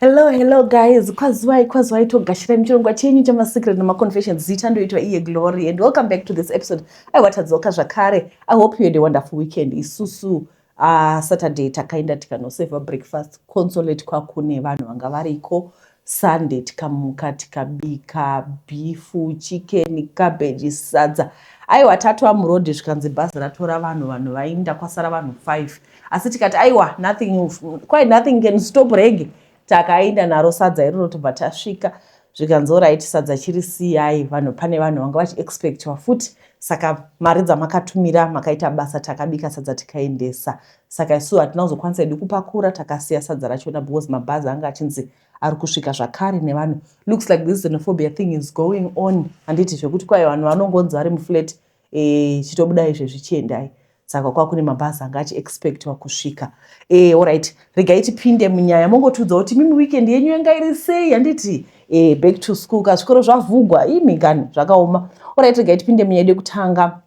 Hello, hello guys. Kwaziwai, kwaziwai togashira muchirongwa chenyu chama secret nema confessions. Zita ndoitwa iye Glory and welcome back to this episode. I watadzoka zvakare. I hope you had a wonderful weekend. Isusu uh, Saturday takaenda tikanoseva breakfast consolate kwakune vanhu vanga variko. Sunday tikamuka tikabika bifu, chicken, cabbage, sadza. Aiwa tatwa muroad zvikanzi bhazi ratora vanhu vanhu vainda kwasara vanhu 5. asi tikati aiwa nothing quite nothing can stop rege takaenda naro sadza iroro tobva tasvika zvikanzi orit sadza chiri siyai vanhu pane vanhu vanga vachiexpectwa futi saka mari dzamakatumira makaita basa takabika sadza tikaendesa saka isu hatina kuzokwanisa hedu kupakura takasiya sadza rachona because mabhazi anga achinzi ari kusvika zvakare nevanhu looks like this xenophobia thing is going on handiti zvekuti kwaye vanhu vanongonzi vari muflat e, chitobuda izvezvi chiendai saka kwakune mabhazi anga achi expectwa kusvika e, orit regai tipinde munyaya mongotiudza kuti mimi weekend yenyu yanga iri sei handiti e, back to school ka zvikoro zvavhugwa imi kani zvakaoma orit regai tipinde munyaya yedu kutanga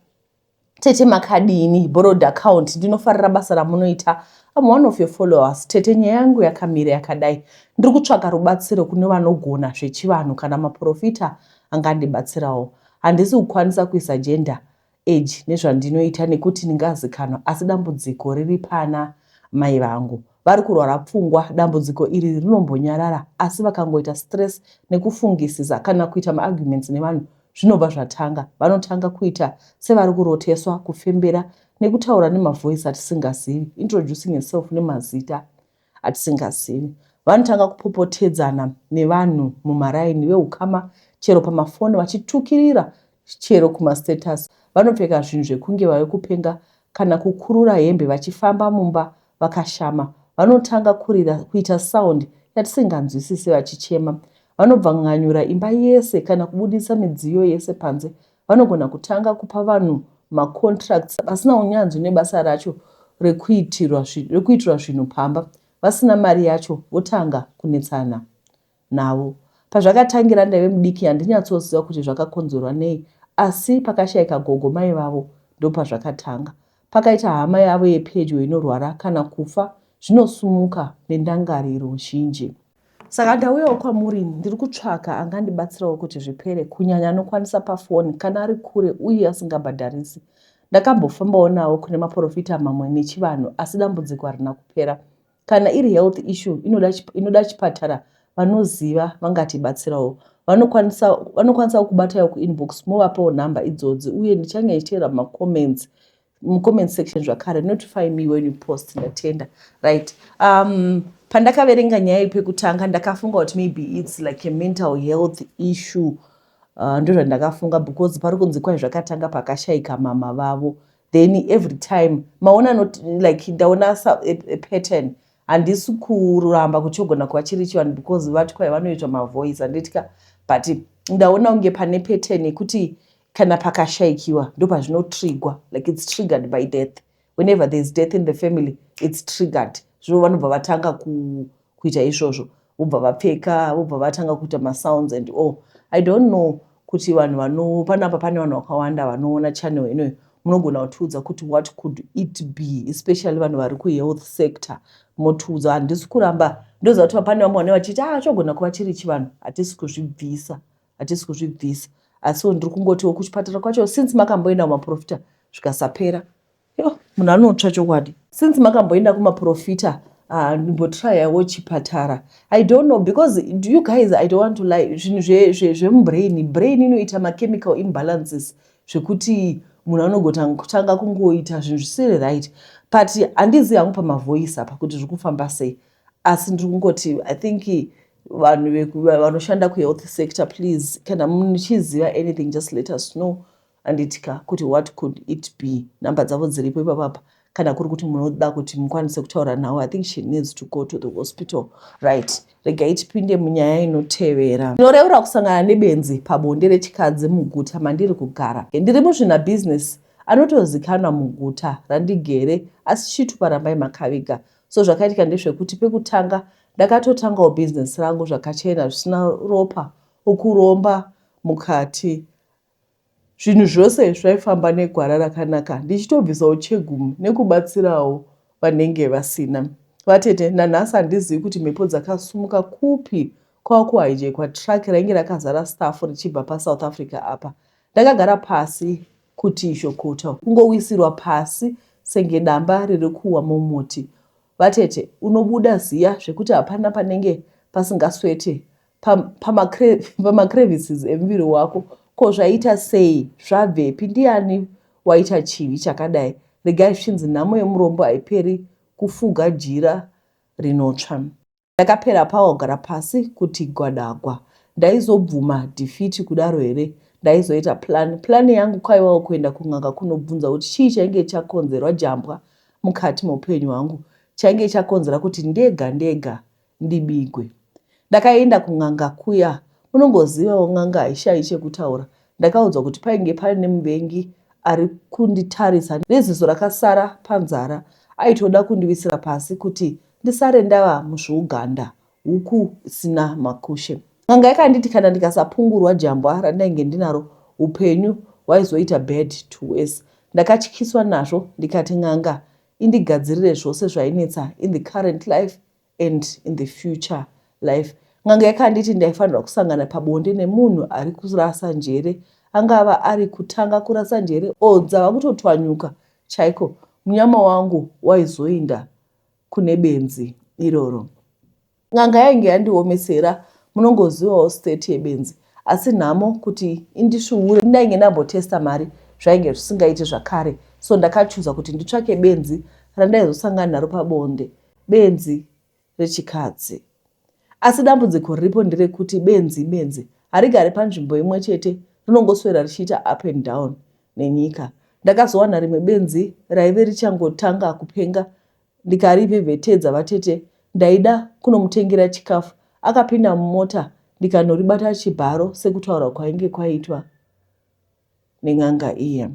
tete makadini borrowed account ndinofarira basa ramunoita am one of your followers tete nyaya yangu yakamira yakadai ndiri kutsvaka rubatsiro kune vanogona zvechivanhu kana maprofita angandibatsirawo Handisi kukwanisa kuisa gender age nezvandinoita nekuti ndingazikanwa asi dambudziko riri pana mai vangu. Vari kurwara pfungwa, dambudziko iri rinombonyarara asi vakangoita stress nekufungisisa kana kuita maarguments nevanhu zvinobva zvatanga. Vanotanga kuita sevari kuroteswa, kufembera nekutaura nemavoice atisingazivi, introducing herself nemazita. atisingazivi. Vanotanga kupopotedzana nevanhu mumaraini, vehukama chero pamafoni vachitukirira chero kumastatus. Vanopfeka zvinhu zvekunge vave kupenga kana kukurura hembe vachifamba mumba vakashama. Vanotanga kurira, kuita sound yatisinganzwisise vachichema. Vanobvanganyura imba yese kana kubudisa midziyo yese panze vanogona kutanga kupa vanhu macontracts vasina unyanzvi nebasa racho rekuitirwa zvinhu pamba vasina mari yacho votanga kunetsana navo pazvakatangira ndaive mudiki handinyatsoziva kuti zvakakonzerwa nei asi pakashaika gogo mai vavo ndopazvakatanga pakaita hama yavo yepedyo inorwara kana kufa zvinosumuka nendangariro zhinji Saka ndauyawo kwamuri ini ndiri kutsvaka angandibatsirawo kuti zvipere kunyanya anokwanisa pafoni kana ari kure uye asingabhadharisi. Ndakambofambawo nawo kune maporofita mamwe nechivanhu asi dambudziko harina kupera. Kana iri health issue inoda, inoda chipatara vanoziva vangatibatsirawo. Vanokwanisa vanokwanisawo kubatawo kuinbox movapawo nhamba idzodzi uye ndichange ndichiteera macomments mucomment section zvakare notify me when you post ndatenda right um, pandakaverenga nyaya pekutanga ndakafunga kuti maybe its like a mental health issue uh, ndozvandakafunga because pari kunzi kwai zvakatanga pakashaika mama vavo then every time maona not like ndaona a, a pattern handisi kuramba kuchogona kwachiri chivanhu because vati kwai vanoitwa mavoice handitya but ndaona kunge pane pattern yekuti Kana pakashaikiwa ndopazvinotrigwa like it's triggered by death. Whenever there is death in the family it's triggered. Zvo vanobva vatanga ku, kuita izvozvo vobva vapfeka vobva vatanga kuita masounds and all. I don't know kuti vanhu vano panapa pane vanhu vakawanda vanoona channel inoyo munogona kutiudza kuti what could it be especially vanhu vari kuhealth sector motiudza handisi kuramba ndoziva kuti pane vamwe vane vachiti a ah, chogona kuva chiri chivanhu hatisi kuzvibvisa hatisi kuzvibvisa asiwo ndiri kungotiwo kuchipatara kwacho since makamboenda kumaprofita zvikasapera yo munhu anotsva chokwadi since makamboenda kumaprofita ah, ndimbotryawo chipatara i don't know because you guys i don't want to lie zvinhu zvemubrain brain inoita machemical imbalances zvekuti munhu anogotanga kungoita zvinhu zvisiri right but handizi hangu pamavoice apa kuti zviri kufamba sei asi ndiri kungoti i think vanhu vanoshanda kuhealth sector please kana muchiziva anything just let us know anditika kuti what could it be number dzavo dziripo ipapapa kana kuri kuti munoda kuti mukwanise kutaura nhau i think she needs to go to the hospital right regai tipinde munyaya inotevera ndinoreura kusangana nebenzi pabonde rechikadzi muguta mandiri kugara ndiri muzvina business anotozikanwa muguta randigere asi chitupa rambai makaviga So zvakaitika ndezvekuti pekutanga ndakatotangawo business rangu zvakachena zvisina ropa ukuromba mukati zvinhu zvose zvaifamba negwara rakanaka ndichitobvisawo chegumu nekubatsirawo vanenge vasina vatete nanhasi handizivi kuti mhepo dzakasumuka kupi kwava kuhijekwa truck rainge rakazara staff richibva pasouth africa apa ndakagara pasi Kuti izvo kuto. Kungowisirwa pasi senge damba riri kuwa mumuti. Vatete unobuda ziya zvekuti hapana panenge pasingaswete pa, pama, cre, pama crevices emuviri wako. Ko zvaita sei? Zvabvepi? Ndiani waita chivi chakadai? Regai zvichinzi nhamo yemurombo haiperi kufuga jira rinotsva. Ndakapera power kugara pasi kuti gwadagwa ndaizobvuma defeat kudaro here ndaizoita plan plan yangu kwaiwawo kuenda kun'anga kunobvunza kuti chii chainge chakonzerwa jambwa mukati meupenyu hwangu chainge chakonzera kuti ndega ndega ndibigwe ndakaenda kun'anga kuya unongozivawo n'anga haishayi chekutaura ndakaudzwa kuti painge paine muvengi ari kunditarisa neziso rakasara panzara aitoda kundiwisira pasi kuti Ndisare ndava muzvouganda huku isina makushe. N'anga yakanditi kana ndikasapungurwa jambwa randainge ndinaro hupenyu hwaizoita bad to worse. Ndakatyiswa nazvo ndikati n'anga indigadzirire zvose zvainetsa in the current life and in the future life. N'anga yakanditi ndaifanirwa kusangana pabonde nemunhu ari kurasa njere. Angava ari kutanga kurasa njere or dzava kutotwanyuka chaiko. Munyama wangu waizoinda kune benzi iroro. N'anga yainge yandiomesera munongozivawo state yebenzi asi nhamo kuti indisvuure ndainge ndambotesta mari zvainge zvisingaiti zvakare so ndakachuza kuti nditsvake benzi randaizosangana naro pabonde benzi rechikadzi asi dambudziko riripo nderekuti benzi benzi harigari panzvimbo imwe chete rinongoswera richiita up and down nenyika. Ndakazowana rimwe benzi raive richangotanga kupenga ndikarivhevhetedza vatete ndaida kunomutengera chikafu akapinda mumota ndikanoribata chibharo sekutaura kwainge kwaitwa nen'anga iye.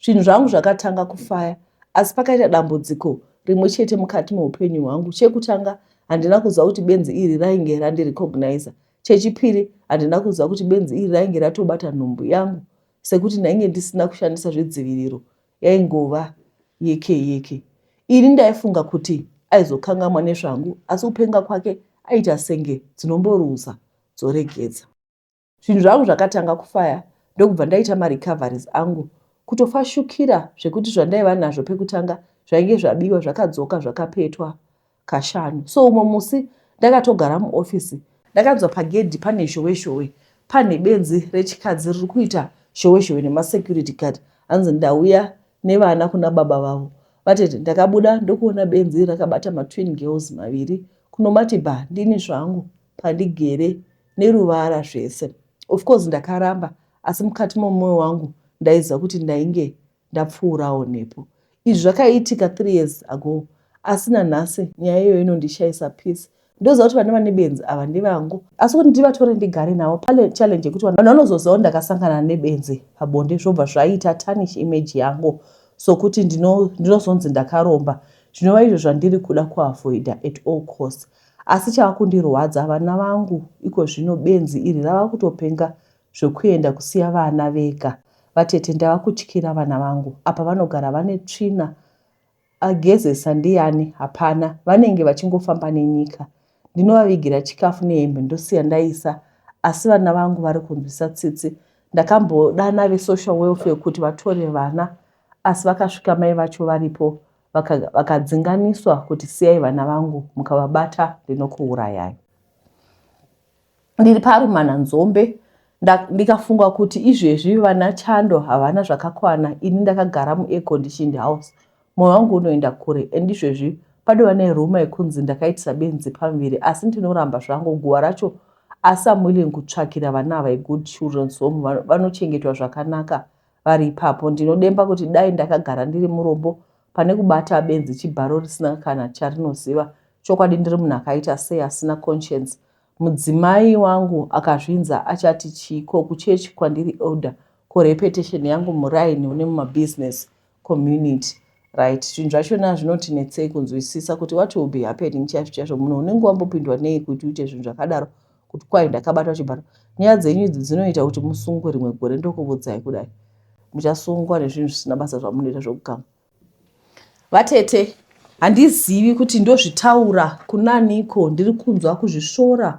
Zvinhu zvangu zvakatanga kufaya asi pakaita dambudziko rimwe chete mukati meupenyu hwangu. Chekutanga handina kuziva kuti benzi iri rainge randirecogniza. Chechipiri handina kuziva kuti benzi iri rainge ratobata nhumbu yangu sekuti ndainge ndisina kushandisa zvedziviriro yaingova yeke yeke ini ndaifunga kuti aizokangamwa nezvangu asi kupenga kwake aita senge dzinomboruza dzoregedza zvinhu zvangu zvakatanga kufaya ndokubva ndaita marecoveries angu kutofashukira zvekuti zvandaiva nazvo pekutanga zvainge zvabiwa zvakadzoka zvakapetwa kashanu so umwe musi ndakatogara muofisi ndakanzwa pagedhi pane zhowe zhowe pane benzi rechikadzi riri kuita zhowe zhowe nemasecurity guard hanzi ndauya nevana kuna baba vavo vatete ndakabuda ndokuona benzi rakabata matwin girls maviri kunomati ba ndini zvangu pandigere neruvara zvese of course ndakaramba asi mukati momwoyo wangu ndaiziva kuti ndainge ndapfuurawo nepo. Izvi zvakaitika three years ago asi nanhasi nyaya iyoyo inondishaisa peace ndoziva kuti vane vane benzi ava ndevangu asi kuti ndivatore ndigare navo pane challenge yekuti vanhu vanozoziva kuti ndakasangana nebenzi pabonde zvobva zvaita tanish image yangu sokuti ndinozonzi ndakaromba zvinova izvo zvandiri kuda kuavoida at all cost asi chava kundirwadza vana vangu iko zvino benzi iri rava kutopenga Zvekuenda kusiya vana vega. Vatete ndavakutyira vana vangu apa vanogara vane tsvina agezesa ndiyani hapana vanenge vachingofamba nenyika ndinovavigira chikafu nehembe ndosiya ndaisa asi vana vangu vari kunzwisa tsitsi ndakambodana vesocial welfare kuti vatore vana asi vakasvika mai vacho varipo vakadzinganiswa kuti siyai vana vangu mukavabata ndinokuurayai ndiri parumana nzombe ndikafunga kuti izvezvi vana chando havana zvakakwana ini ndakagara muairconditioned house mwoyo wangu unoenda kure and izvezvi padova neruma yekunzi ndakaitisa benzi pamuviri asi ndinoramba zvangu guva racho asi am willing kutsvakira vana ava igood children so vanochengetwa zvakanaka vari ipapo ndinodemba kuti dai ndakagara ndiri murombo pane kubata benzi chibharo risina kana charinoziva chokwadi ndiri munhu akaita sei asina conscience Mudzimai wangu akazvinza achati chii ko kuchurch kwandiri elder ko reputation yangu muraini une mumabusiness community right zvinhu zvachona zvinotinetsei kunzwisisa kuti what will be happening chaizvo chaizvo munhu unenge wambopindwa nei kuti uite zvinhu zvakadaro kuti kwai ndakabatwa chibharo nyaya dzenyu idzi dzinoita kuti musungwe rimwe gore ndokuvudzai kudai muchasungwa nezvinhu zvisina basa zvamunoita zvokugamba Vatete, handizivi kuti ndozvitaura kunaniko ndiri kunzwa kuzvisvora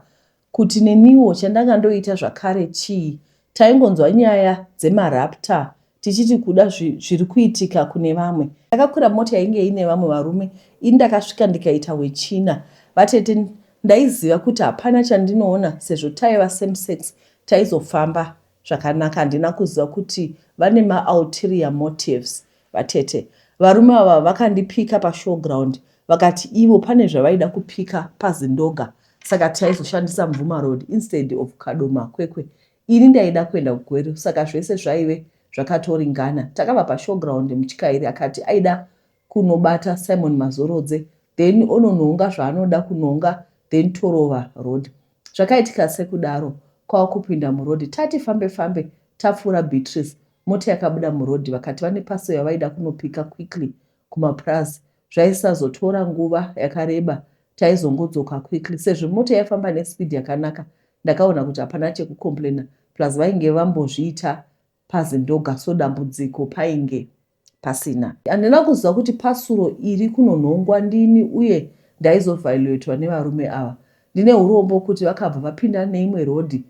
kuti neniwo chandanga ndoita zvakare chii. Taingonzwa nyaya dzemarapta tichiti kuda zviri kuitika kune vamwe. Ndakakwira mota yainge ine vamwe varume ini ndakasvika ndikaita wechina. Vatete, ndaiziva kuti hapana chandinoona sezvo taiva same sex taizofamba Zvakanaka handina kuziva kuti vane ma ulterior motives vatete. Varume ava vakandipika pa show ground vakati ivo pane zvavaida kupika pa Zindoga saka taizoshandisa Mvuma road instead of Kadoma Kwekwe. Ini ndaida kuenda ku Gweru saka zvese zvaive zvakatoringana. Takabva pa show ground mutyairi akati aida kunobata Simon Mazorodze then ononohonga zvaanoda kunonga then torova road. Zvakaitika sekudaro kwava kupinda muroad tati fambe fambe tapfuura Beatrice mota yakabuda muroad vakati vane parcel yavaida kunopika quickly kumapurazi zvaisazotora nguva yakareba taizongodzoka quickly sezvo mota yaifamba nespeed yakanaka ndakaona kuti hapana chekucomplainer plus vainge vambozviita paZindoga so dambudziko painge pasina. Handina kuziva kuti pasuro iri kunonhongwa ndini uye ndaizoviolatiwa nevarume ava. Ndine hurombo kuti vakabva vapinda neimwe road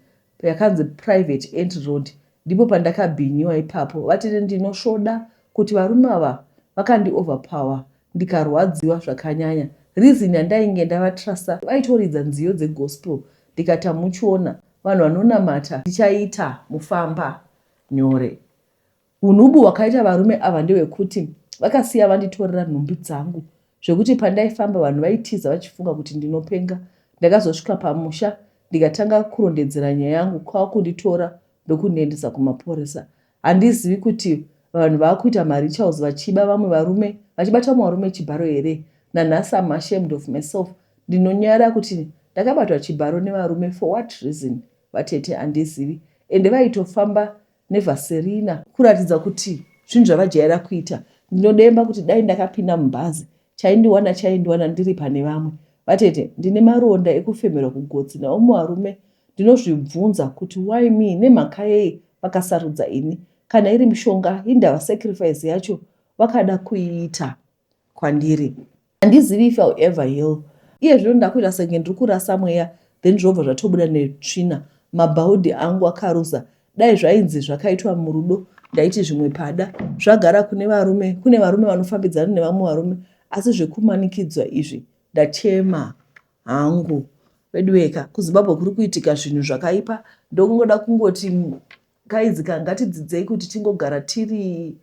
yakanzi private entry road ndipo pandakabhinyiwa ipapo vatete ndinosvoda kuti varume ava vakandi overpower ndikarwadziwa zvakanyanya reason yandainge ndava truster vaitoridza nziyo dze gospel ndikati hamuchiona vanhu vanonamata ndichaita mufamba nyore hunhubu hwakaita varume ava ndewekuti vakasiya vanditorera nhumbi dzangu zvekuti pandaifamba vanhu vaitiza vachifunga kuti ndinopenga ndakazosvika pamusha ndikatanga kurondedzera nyaya yangu kwakunditora ndokundiendesa kumaporesa Handizivi kuti vanhu vakuita marituals vachiba vamwe varume vachibata vamwe varume chibharo here nanhasi am ashamed of myself ndinonyara kuti ndakabatwa chibharo nevarume for what reason vatete handizivi ende vaitofamba nevaserina kuratidza kuti zvinhu zvavajaira kuita ndinodemba kuti dai ndakapinda mubhazi Chaindiwana chaindiwana ndiri pane vamwe. Vatete, ndine maronda ekufemerwa kugotsi naumwe varume ndinozvibvunza kuti why me nemhaka yei vakasarudza ini. Kana iri mishonga hindava sacrifice yacho vakada kuiita kwandiri. Handizivi if I'll ever heal. Iye zvino ndakuita senge ndiri kurasa mweya then zvobva zvatobuda netsvina. Mabhaudhi angu akaruza Dai zvainzi zvakaitwa murudo ndaiti zvimwe pada zvagara kune varume kune varume vanofambidzana nevamwe varume asi zvekumanikidzwa izvi ndachema hangu veduweka kuzimbabwe kuri kuitika zvinhu zvakaipa ndokungoda kungoti kaizi ka ngatidzidzei kuti tingogara tiri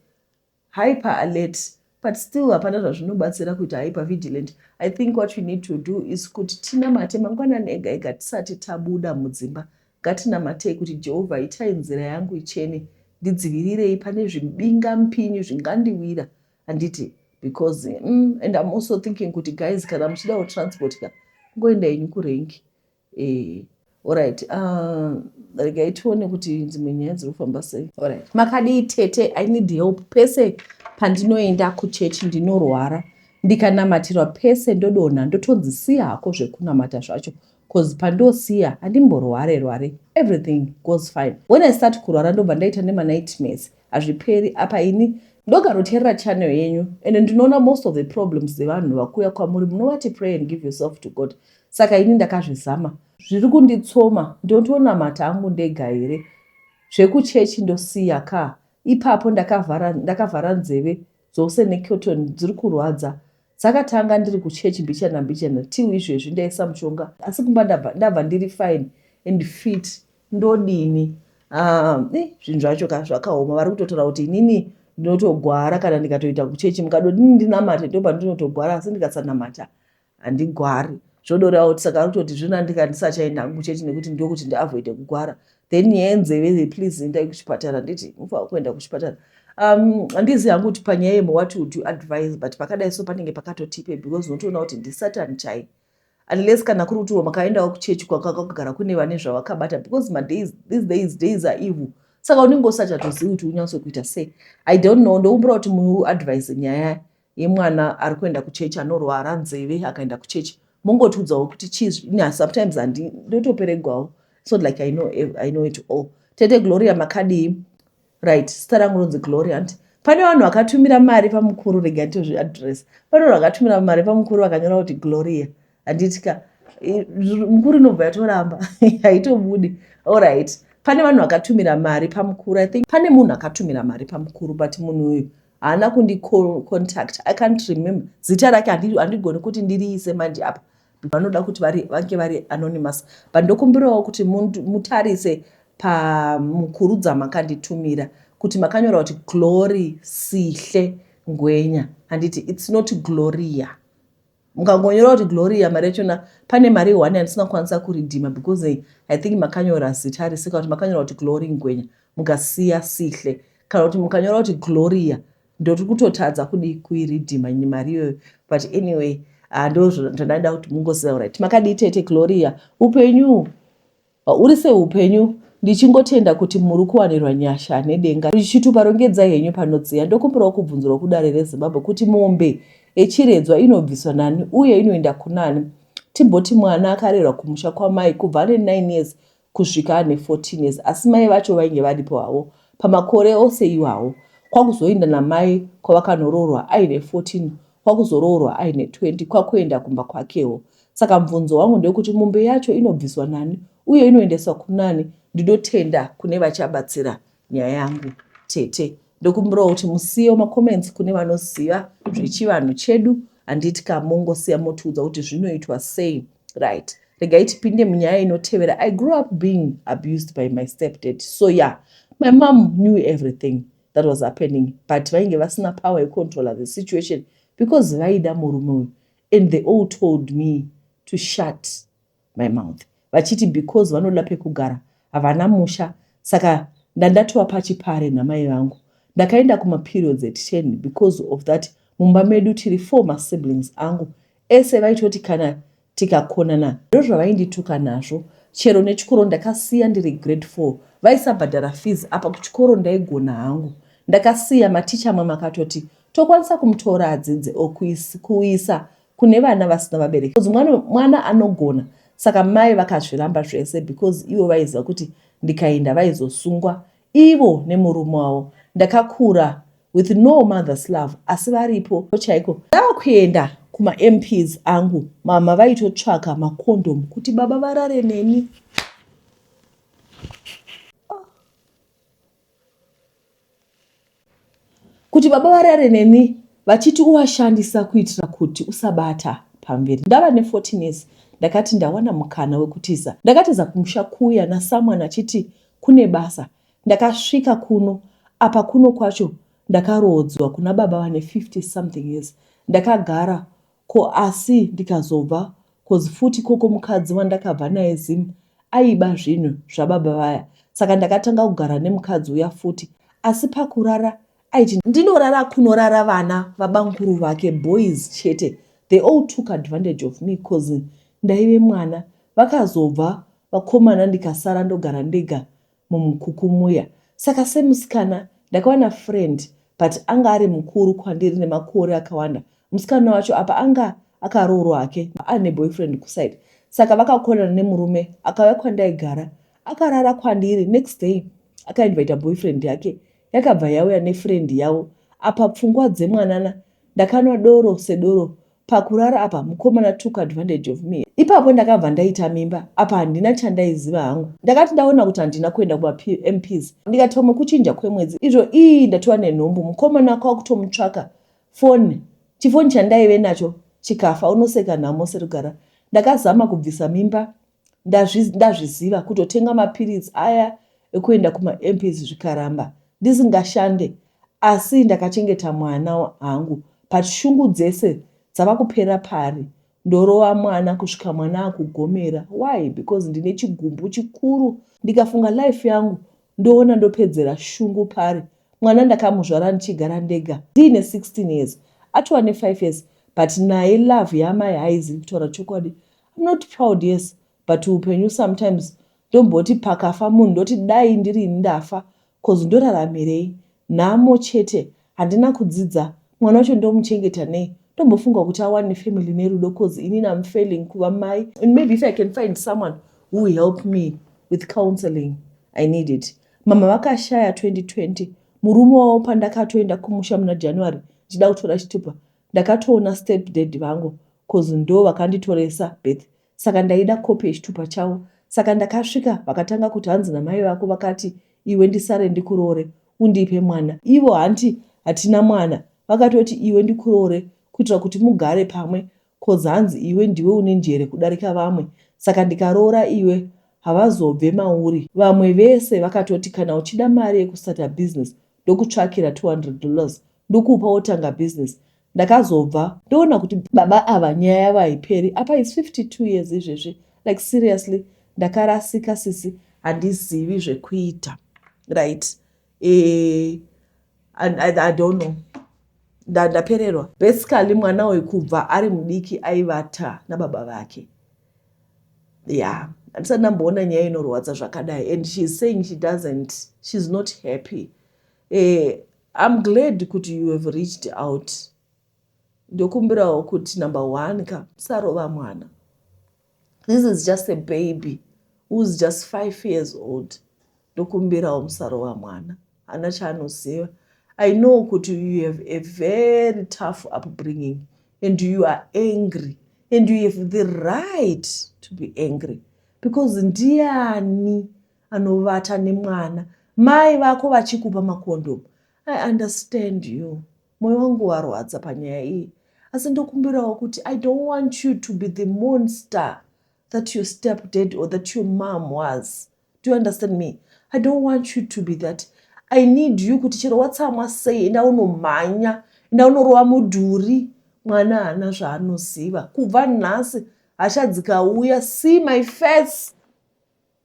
Hyper alert but still hapana zvazvinobatsira kuita hyper vigilant. I think what we need to do is kuti tinamate mangwanani ega ega tisati tabuda mudzimba. Ngatinamatei kuti Jehovha itai nzira yangu ichene, ndidzivirirei pane zvimbinga mpinyu zvingandiwira handiti because mm, and I'm also thinking kuti guys kana muchida transport ka ngoenda yenyu kurengi Eh, alright. Uh, regai tione kuti dzimwe nyaya dziri kufamba sei. Alright. Makadii tete? I need help. Pese pandinoenda kuchechi ndinorwara. Ndikanamatirwa pese ndodonha ndotonzi siya hako zvekunamata zvacho cause pandosiya handimborware rware everything goes fine. When I start kurwara ndobva ndaita nema nightmares. Hazviperi apa ini ndogaroteerera channel yenyu and ndinoona most of the problems dzevanhu vakuuya kwamuri munovati pray and give yourself to God. saka ini ndakazvizama zviri kunditsoma ndontonamata angu ndega here zvekuchechi ndosiya ka ipapo ndakavhara ndakavhara nzeve dzose necotton dziri kurwadza dzakatanga ndiri kuchechi mbichana mbichana till izvezvi ndaisa mushonga asi kumba ndabva ndabva ndiri fine and fit ndodini Ah, eh, zvinhu zvacho ka zvakaoma vari kutotaura kuti inini ndinotogwara kana ndikatoita kuchechi mukadodini ndinamate ndoba ndinotogwara asi ndikasanamata handigwari zvodoreva kuti saka rutoti zvino andinga ndisachaenda hangu chete nekuti ndokuti ndiavoide kugwara then yenzeve the please endai kuchipatara nditi mufanira kuenda kuchipatara um handizi hangu kuti panyaya yemo what would you advise but pakadai so panenge pakatotipe because unotoona kuti ndisatan chai unless kana kuri kutiwo makaendawo kuchechi kwakaka kugara kune vane zvavakabata because madays these days days are evil saka unenge usachatozivi kuti unyatso kuita sei i don't know ndokumbura kuti muadvise nyaya yemwana ari kuenda kuchechi anorwara nzeve akaenda kuchechi mongotiudzawo kuti chii na sometimes handi ndotoperegwawo it's not like I know, I know it all tete gloria makadii right sita rangu ronzi gloria hanti pane vanhu vakatumira mari pamukuru rega nditozviadress pane vanhu vakatumira mari pamukuru vakanyora kuti gloria handitika mukuru inobva yatoramba haitobudi allright pane vanhu vakatumira mari pamukuru i think pane munhu akatumira mari pamukuru but munhu uyu haana kundicontact i can't remember zita rake handigoni kuti ndiriise manje apa vanoda kuti vange vari anonymous but ndokumbirawo kuti mutarise pamukuru dzamakanditumira kuti makanyora kuti glory sihle ngwenya handiti its not gloria Mukangonyora kuti Gloria mari yacho na pane mari one yandisingakwanisa kuridhima because eh, I think makanyora zita rese kana kuti makanyora kuti Glory Ngwenya mukasiya Sihle kana kuti mukanyora kuti Gloria ndoti kutotadza kudi kuiridhima nyi mari iyoyo but anyway ah, ndo zvandaida kuti mungoziva right makadii tete Gloria upenyu Uri sei upenyu ndichingotenda kuti muri kuwanirwa nyasha nedenga richitupa rongedzai henyu panodziya ndokumbirawo kubvunzirwa kudare rezimbabwe kuti mombe yechiredzwa inobviswa nani uye inoenda kunani timboti mwana akarerwa kumusha kwamai kubva ane 9 years kusvika ane 14 years asi mai vacho vainge varipo havo pamakore ose iwawo kwakuzoinda namai kwavakanoroorwa aine 14 kwakuzoroorwa aine 20 kwakuenda kumba kwakewo saka mvunzo wangu ndewekuti mombe yacho inobviswa nani uye inoendeswa kunani ndinotenda kune vachabatsira nyaya yangu tete ndokumbirawo kuti musiyewo macomments kune vanoziva zvechivanhu chedu handiti ka mongosiya motiudza kuti zvinoitwa sei right regai tipinde munyaya inotevera i grew up being abused by my stepdad so ya yeah, my mom knew everything that was happening but vainge vasina power yecontroller the situation because vaida murume uyu and they all told me to shut my mouth vachiti because vanoda pekugara havana musha saka ndandatova pachipare namai vangu ndakaenda kumaperiods at 10 because of that mumba medu tiri four masiblings angu ese vaitoti kana tikakonana ndozvavaindituka nazvo chero nechikoro ndakasiya ndiri grade 4 vaisabhadhara fees apa kuchikoro ndaigona hangu ndakasiya maticha amwe makatoti tokwanisa kumutora adzidze o kuisa kune vana vasina vabereki because mwana, mwana anogona saka mai vakazviramba zvese because ivo vaiziva kuti ndikaenda vaizosungwa Ivo nemurume wavo ndakakura with no mother's love asi varipo chaiko. Ndavakuenda kuma MPs angu mama vaitotsvaka macondom kuti baba varare neni. kuti baba varare neni vachiti uvashandisa kuitira kuti usabata pamberi ndava ne 14 years ndakati ndawana mukana wekutiza ndakatiza kumusha kuya na someone achiti kune basa ndakasvika kuno apa kuno kwacho ndakaroodzwa kuna baba vane 50 something years ndakagara Ko asi ndikazobva coz futi ikoko mukadzi wandakabva naye Zim aiba zvinhu zvababa vaya saka ndakatanga kugara nemukadzi uya futi asi pakurara aiti ndinorara kunorara vana vabamkuru vake boys chete they all took advantage of me coz ndaive mwana vakazobva vakomana ndikasara ndogara ndega mumukuku muya saka semusikana ndakawana friend but anga ari mukuru kwandiri nemakore akawanda musikana wacho apa anga akaroorwa hake aine boyfriend kuside saka vakakonana nemurume akauya kwandaigara akarara kwandiri next day akainvita boyfriend yake yakabva yauya nefriend yavo apa pfungwa dzemwanana ndakanwa doro sedoro Pakurara apa mukomana took advantage of me ipapo ndakabva ndaita mimba apa handina chandaiziva hangu ndakati ndaona kuti handina kuenda kumapmps ndikati pamwe kuchinja kwemwedzi izvo ii ndatova nenhumbu mukomana kwakutomutsvaka foni chifoni chandaive nacho chikafa unoseka nhamo serugara ndakazama kubvisa mimba ndazviziva kutotenga mapiritsi aya ekuenda kumamps zvikaramba ndisingashande asi ndakachengeta mwana hangu but shungu dzese dzava kupera pari ndorova mwana kusvika mwana akugomera why because ndine chigumbu chikuru ndikafunga life yangu ndoona ndopedzera shungu pari mwana ndakamuzvara ndichigara ndega ndiine 16 years atova ne5 years but naye love yamai haizivi kutaura chokwadi I'm not proud yes but upenyu sometimes ndomboti pakafa munhu ndoti dai ndiri ini ndafa cause ndoraramirei nhamo chete handina kudzidza mwana wacho ndomuchengeta nei ndombofunga kuti awane family nerudo cause ini nam failing kuva mai and maybe if i can find someone who will help me with counseling i need it mama vakashaya 2020 murume wavo pandakatoenda kumusha muna january ndichida kutora chitupa Ndakatoona step dad vangu coz ndoo vakanditoresa birth saka ndaida copy yechitupa chavo saka ndakasvika vakatanga kuti hanzi namai vako vakati iwe ndisare ndikuroore undipe mwana ivo hanti hatina mwana vakatoti iwe ndikuroore kuitira kuti mugare pamwe coz hanzi iwe ndiwe une njere kudarika vamwe saka ndikaroora iwe havazobve mauri. Vamwe vese vakatoti kana uchida mari yekustarta business ndokutsvakira 200 dollars ndokupa wotanga business ndakazobva ndoona kuti baba ava nyaya yavo haiperi apa is 52 years izvezvi like seriously ndakarasika sisi handizivi zvekuita right e, I, I, i don't know ndapererwa da basically mwana uyu kubva ari mudiki aivata nababa vake ya yeah. andisati ndamboona nyaya inorwadza zvakadai and sheis saying she doesn't sheis not happy Eh, I'm glad kuti you have reached out. Ndokumbirawo kuti number one ka usarova mwana. This is just a baby who's just five years old. Ndokumbirawo musarova mwana. Hana chaanoziva. I know kuti you have a very tough upbringing and you are angry and you have the right to be angry because ndiani anovata nemwana mai vako vachikupa makondomu i understand you moyo wangu warwadza panyaya iyi asi ndokumbirawo kuti i don't want you to be the monster that your step dad or that your mom was do you understand me i don't want you to be that i need you kuti chero watsamwa sei enda unomhanya enda unorova mudhuri mwana haana zvaanoziva kubva nhasi hachadzikauya see my face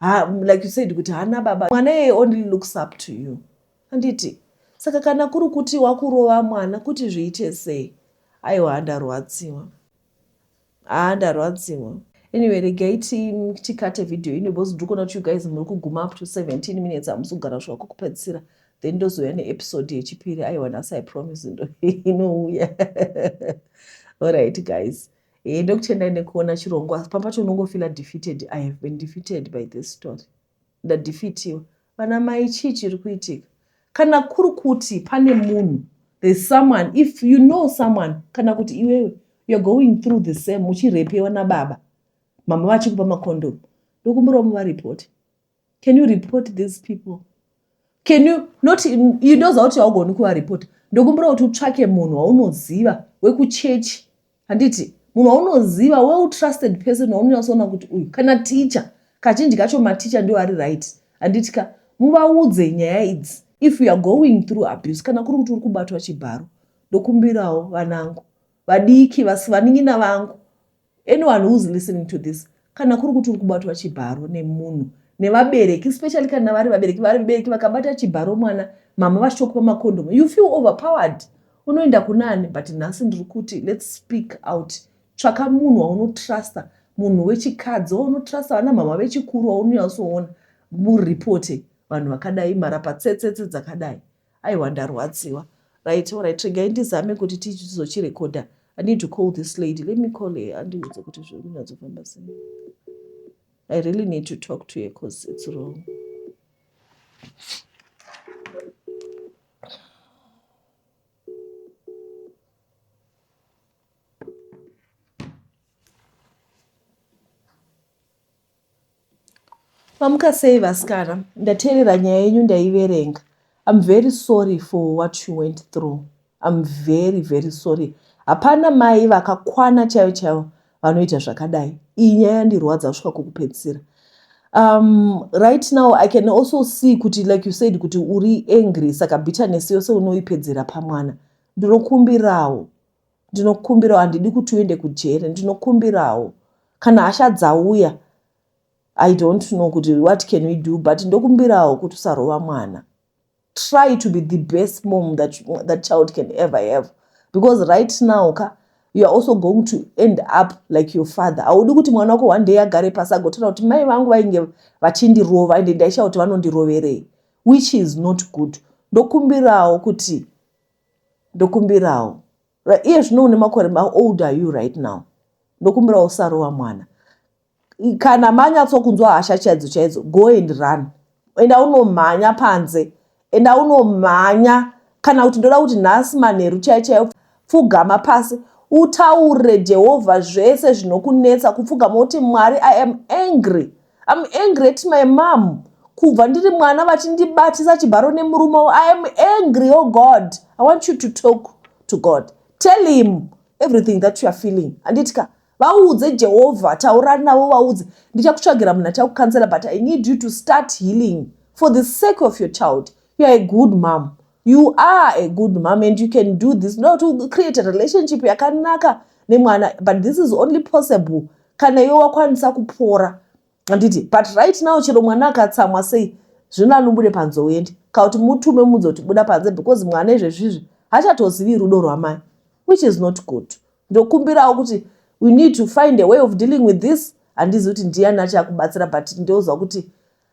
ha, like you said kuti hana baba mwana yeye only looks up to you handiti saka kana kuri kuti wakurova mwana kuti zviite sei aiwa handarwadziwa haa ndarwadziwa anyway regai tikate vhidhiyo ino because ndiri kuona kuti you guys muri kuguma up to 17 minutes hamusi kugara kusvika kwekupedzisira then ndozouya neepisode yechipiri aiwa nhasi i promise ndo inouya allright guys Hey, ndokutendai nekuona chirongwa asi papacho unongofila defeated i have been defeated by this story ndadefitiwa vana mai chii chiri kuitika kana kuri kuti pane munhu there's someone if you know someone kana kuti iwewe you're going through the same uchirepewa nababa mama vachikupa makondomu ndokumbirawo muvaripoti can you report these people can you not indoziva kuti haugoni kuvarepota ndokumbira kuti utsvake munhu waunoziva wekuchechi handiti munhu waunoziva weutrusted person waunonyatsoona kuti uyu kana ticha kazhinji kacho maticha ndiwo ari right handiti ka muvaudze nyaya idzi if youare going through abuse kana kuri kuti uri kubatwa chibharo ndokumbirawo vanangu vadiki vasivanin'ina vangu Anyone who is listening to this, kana kuri kuti uri kubatwa chibharo nemunhu nevabereki especially kana vari vabereki vari vabereki vakabata chibharo mwana mama vachitokupa makondomu you feel overpowered unoenda kunani but nhasi ndiri kuti let's speak out tsvaka munhu waunotrusta munhu wechikadzi waunotrusta vana mama vechikuru waunonyatsoona muripote vanhu vakadai marapatsetsetse dzakadai Aiwa ndarwadziwa. Right, alright, regai ndizame kuti tizochirekodha. I need to call this lady. Let me call her. Andiudze kuti zviri kunyatsofamba sei. I really need to talk to her because it's wrong. Mamuka sei vasikana ndateerera nyaya yenyu ndaiverenga I'm very sorry for what you went through I'm very very sorry hapana mai vakakwana chaivo chaivo vanoita zvakadai iyi nyaya yandirwadza kusvika kokupedzisira um, right now i can also see kuti like you said kuti uri angry saka bitterness yose unoipedzera pamwana ndinokumbirawo ndinokumbirawo handidi kuti uende kujere ndinokumbirawo kana hasha dzauya i don't know kuti what can we do but ndokumbirawo kuti usarova mwana try to be the best mom that, that child can ever have because right now ka you are also going to end up like your father haudi kuti mwana wako one day agare pasi agotaura kuti mai vangu vainge vachindirova ende ndaishaa kuti vanondiroverei which is not good ndokumbirawo kuti Ndokumbirawo. Iye zvino une makore ma old are you right now? Ndokumbirawo usarova mwana. Kana manyatsokunzwa hasha chaidzo chaidzo, go and run. Enda unomhanya panze. Enda unomhanya kana kuti ndoda kuti nhasi manheru chaiyo chaiyo pfugama pasi utaure Jehovha zvese zvinokunetsa kupfugama uti Mwari I am angry I'm angry at my mom kubva ndiri mwana vachindibatisa chibharo nemurume wavo I am angry oh God I want you to talk to God tell him everything that you are feeling handiti ka vaudze Jehovha taura navo vaudze ndichakutsvagira munhu achakukansela but I need you to start healing for the sake of your child you are a good mom You are a good mom and you can do this. No, to create a relationship yakanaka nemwana but this is only possible kana iwe wakwanisa kupora handiti but right now chero mwana akatsamwa sei zvino anobude panze uende kana kuti mutume mudzi kuti buda panze because mwana izvezvizvi hachatozivi rudo rwamai which is not good ndokumbirawo kuti we need to find a way of dealing with this handizi kuti ndiyani achakubatsira but ndioziva kuti